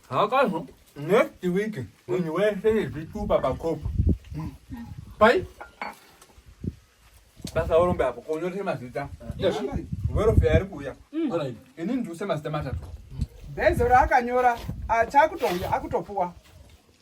Hakazo next week munhu wese nezvitupa pakopo pai basa orombe apo konyore mazita werofe ari kuuya ini ndiuse mazita matatu bezo raakanyora achakutouya akutopuwa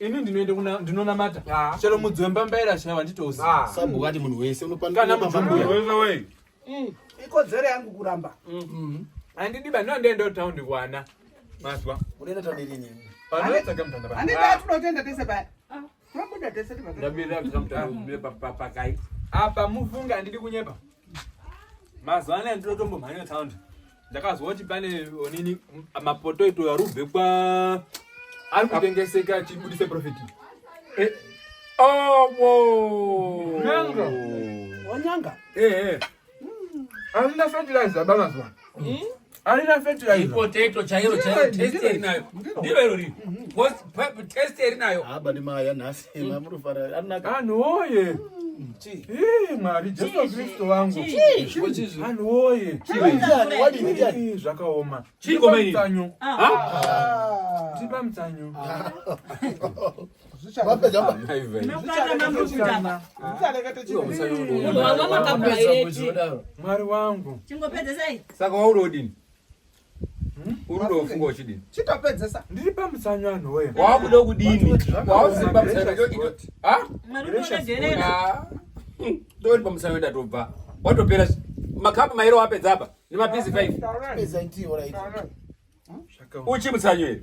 ini ndinoenda kuna ndinonamata ah. chero mudzi wembambaira chaiva handitouzi ah. sabhuku ati munhu wese unokwanakana mujumbuwei mm. ikodzero yangu kuramba mm. mm. handidi ba ndondienda kutaundi kwana mazwa unoenda taundi rini panotsvaga mutanda pa handidi atinotenda tese paya ah. tobuda tese ndabira mutanda papakai apa mufunga handidi kunyepa mazwa anaya ndinotombomhanya taundi ndakazwa kuti pane onini mapoto ito yarubve kwa ari kutengeseka achibudise profiti eh. owo nyanga wanyanga eh, eh. arina fertilizer ba mazuva hmm? arina fertilizer ipotato chairo chairo test erinayo ndiro iro riri test erinayo aba ah, ni maya nhasi vanhu woye mwari jesu kristu vangu vanhu woye zvakaoma chiikomaitanyu tipa mutsanyu mwari wangu saka wauri odini uri ndofunga uchidini chitopedzesa ndiri pamusanyo anhu woye wakuda kudini wausiri pamusanyo ndori pamusanyo ndatobva watopera makapu mairo wapedza apa nemapizi 5 uchimusanyo here